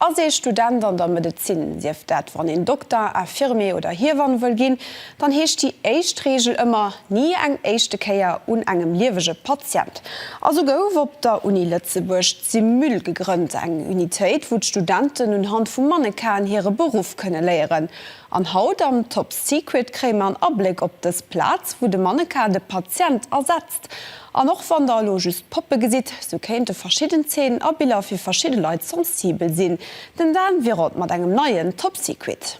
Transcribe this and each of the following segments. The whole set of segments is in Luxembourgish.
Ass ee Student an der Medezin, sief dat wann een Dokter, Infirmier oder Hiewann wëll ginn, dann heescht déi éischt Reegel ëmmer, ni eng éischte Kéier un engem liewege Patient. A sou gouf op der Uni Lëtzebuerg d'Simul gegrënnt, eng Unitéit wou d'Studenten unhand vu Mannequinen hire Beruff kënne léieren. An haut am Top Secret kréie mer en Abléck op dës Plaz, wou de Mannequin de Patient ersetzt. Text. An och wann der elo just Poppe gesitt, sou kéinte verschidden Zeenen a Biller fir verschidde Leit sensibel sinn. Den Dan Wirot mat engem neien Top Secret.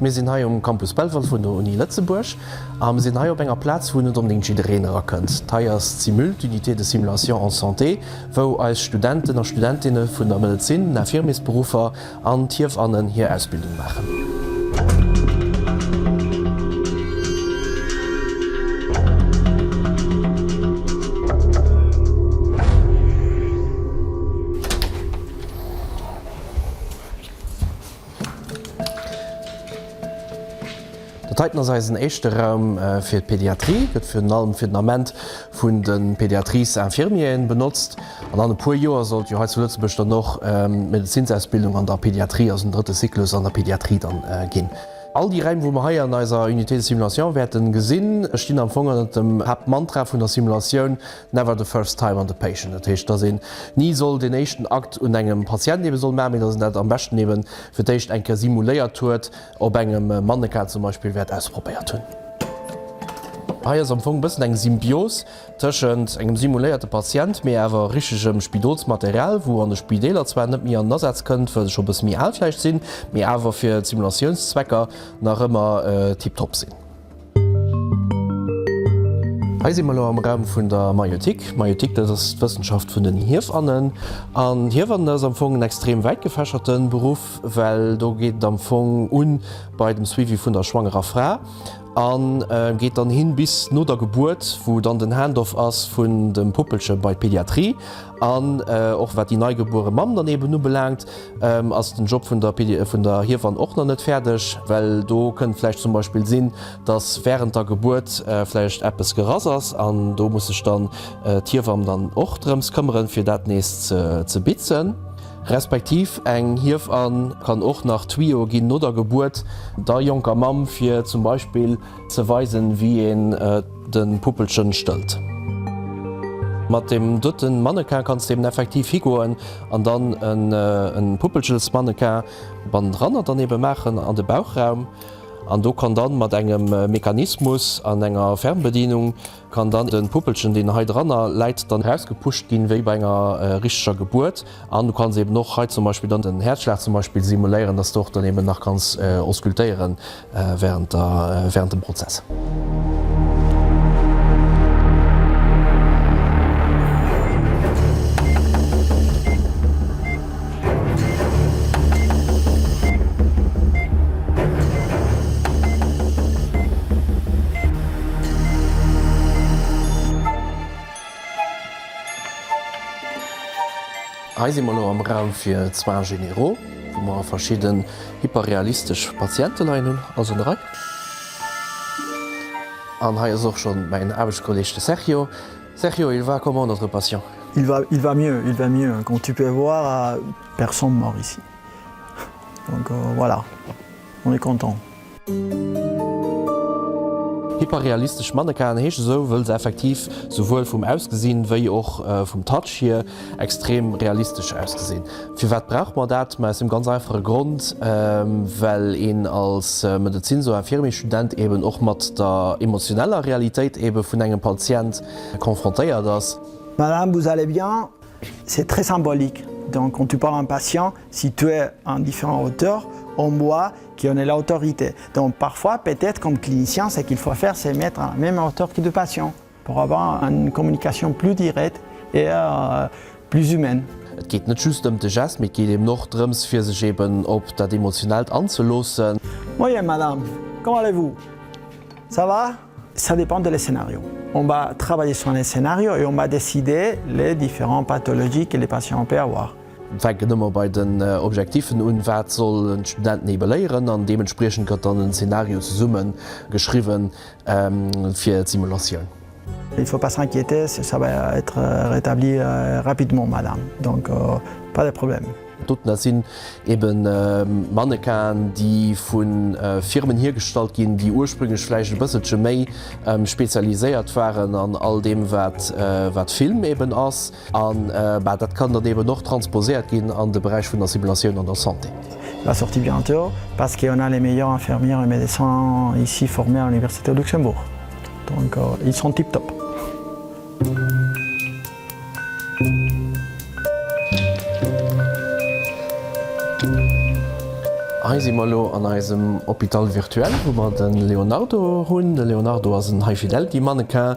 Mir sinn hei um Campus Belval vun der Uni Lëtzebuerg a mir sinn hei op enger Plaz, wou net onbedéngt jiddereen erakënnt. Hei ass d'Simul, d'Unité de simulation en santé, wou eis Studenten a Studentinne vun der Medezin, den Infirmiersberuffer an d'Hiewannen hir Ausbildung maachen. Dat heiten ass eisen éischte Raum fir d'Pediatrie. Gëtt virun allem fir den Ament vun de Pédiatrice infirmieren benotzt. An an e puer Joer sollt jo hei zu Lëtzebuerg dann och d'Medezinsausbildung an der Pédiatrie, also den drëtte Cyclus an der Pédiatrie dann ginn. All déi Raim wou mer hei an eiser Unité de simulation wäerten gesinn stinn am Fong ënnert dem Haaptmantra vun der Simulatioun, Never the first time on the patient, dat heescht, dass een ni soll deen éischten Akt un engem Patient eebe soll maachen, mee dass een dat am beschten eebe fir d'éischt eng Kéier simuléiert huet, op engem Mannequin zum Beispill, wäert ausprobéiert hunn. Hei ass am Fong e bëssen eng Symbios tëschent engem simuléierte Patient, mee awer richtegem Spidolsmaterial, wou an de Spideeler zwar net méi an den Asaz kënnt, well se scho e bësse méi al vläicht sinn, mee awer fir Simulatiounszwecker nach ëmmer tiptop sinn. Hei si mer elo am Raum vun der Maiotik. D'Maiotik, dat ass d'Wëssenschaft vun den Hiewannen. An Hiewannen ass am Fong en extrem wäit gefächerte Beruff, well do geet et am Fong u bei dem Suivi vun der schwangerer Fra a geet dann hin bis no der Gebuert, wou dann den Handoff ass vun dem Puppelche bei d'Pediatrie. An och wat déi neigebuere Mamm dann eben ubelaangt, ass den Job vun der vun der Hiewann och nach net fäerdeg, well do kënnt vläicht zum Beispill sinn, datt wärend der Gebuert vläicht eppes gerass ass an do muss sech dann d'Hiewamm dann och drëms këmmeren, fir dat nees ze bitzen. Respektiv eng Hiewann kann och nach d'Twioe ginn no der Gebuert der jonker Mamm, fir zum Beispill Ze weisen wéi een den Puppelchen stëllt. Mat dem doten Mannequin kanns de eben effektiv higoen an dann en Puppelchensmannequin bannendranner dann eben maachen an de Bauchraum an do kann dann mat engem Mechanismus an enger Fernbedienung Kann dann den Puppelchen deen hei dranner läit dann rausgepuscht ginn wéi bei enger richteger Gebuert an du kanns eben och hei zum Beispill dann den Häerzschlag zum Beispill simuléieren dass de och dann eben nach kanns auskultéieren während der während dem Prozess. Hei si mer elo am Raum fir Soins généraux, wou mer verschidden hyperrealistesch Patiente leien hunn. Also en erai. An hei ass och schonn mäin Aarbechtskolleeg, de Sergio. Sergio, il va comment notre patient? Il va, il va mieux, il va mieux, comme tu peux voir, personne mort ici. Donc voilà, on est content. Hyperrealistesch Mannequinen heesche sou, wëll se effektiv souwuel vum Ausgesinn, wéi och vum Touch hier, Extrem realistesch ausgesinn. Firwat brauch mer dat? Mä aus dem ganz einfache Grond, well een als Medezins oder Infirmier-Student eben och mat der emotioneller Realitéit ebe vun engem Patient confrontéiert ass. Madame, vous allez bien? C'est très symbolique. Donc, quand tu parles à un patient, si tu es à une différente hauteur, en moi, qui en ai l'autorité. Donc, parfois, peut-être, comme clinicien, ce qu'il faut faire, c'est mettre à la même hauteur que le patient. Pour avoir une communication plus dirète et plus humaine. Et geet net just ëm de Gest, mee et geet eben och drëms fir sech eben op dat Emotionellt anzeloossen. Moien Madame, comment allez-vous? Ça va? Ça dépend de le scénario. On va travailler sur un scénario et on va décider les différentes pathologies que le patient peut avoir. Fänken ëmmer bei den Objektiffen un, wat soll en Student nebeléieren? An deementspriechend gëtt dann en Scénario zesummen geschriwwen. fir d'Simulatioun. Il faut pas s'inquiéter, ça va être rétabli rapidement madame, donc pas de problème. Doten, dat sinn ebe Mannequinen, déi vu Firmen hiergestallt ginn, déi ursprünglech vläicht e bësselche méi spezialiséiert waren an all deem, wat Film eben ass. A bah, dat kann dann eben och transposéiert ginn an de Beräich vun der Simulatioun an der Santé. Il va sortir bientôt parce que on a les meilleurs infirmiers et médecins ici formés à l'université de Luxembourg donc ils sont tip top. Hei si mer elo an eisem Hôpital virtuel, wou mer de Leonardo hunn. De Leonardo ass en High Fidelity Mannequin.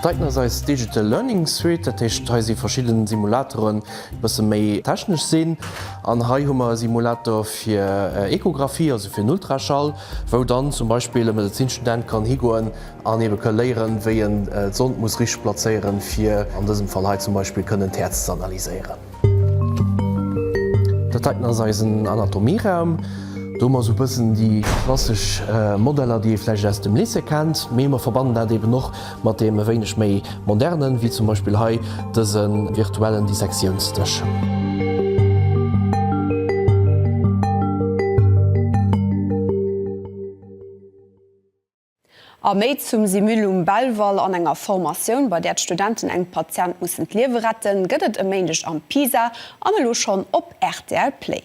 Dat heiten ass eis Digital Learning Suite, dat heescht hei si verschidden Simulateren déi bësse méi technesch sinn. An hei hu mer e Simulator fir Echographie, also fir den Ultraschall, wou dann zum Beispill e Medezinstudent kann higoen an ebe ka léieren, wéi en d'Sond muss richteg plazéieren, fir an dësem Fall hei zum Beispill kënnen d'Häerz ze analyséieren. Dat heiten ass eisen Anatomieraum. Do hu mer esou e bëssen déi klassesch Modeller, déi ee vläicht aus dem Lycée kennt, mee mer verbannen dat eeben och mat deem e wéineg méi modernen, wéi zum Beispill hei dëse virtuellen Dissektiounsdësch. A méi zum Simulum Belval an enger Formatioun, bei där d'Studenten engem Patient mussen d'Liewe retten, gëtt et e Méindeg am Pisa an elo schonn op rtl Play.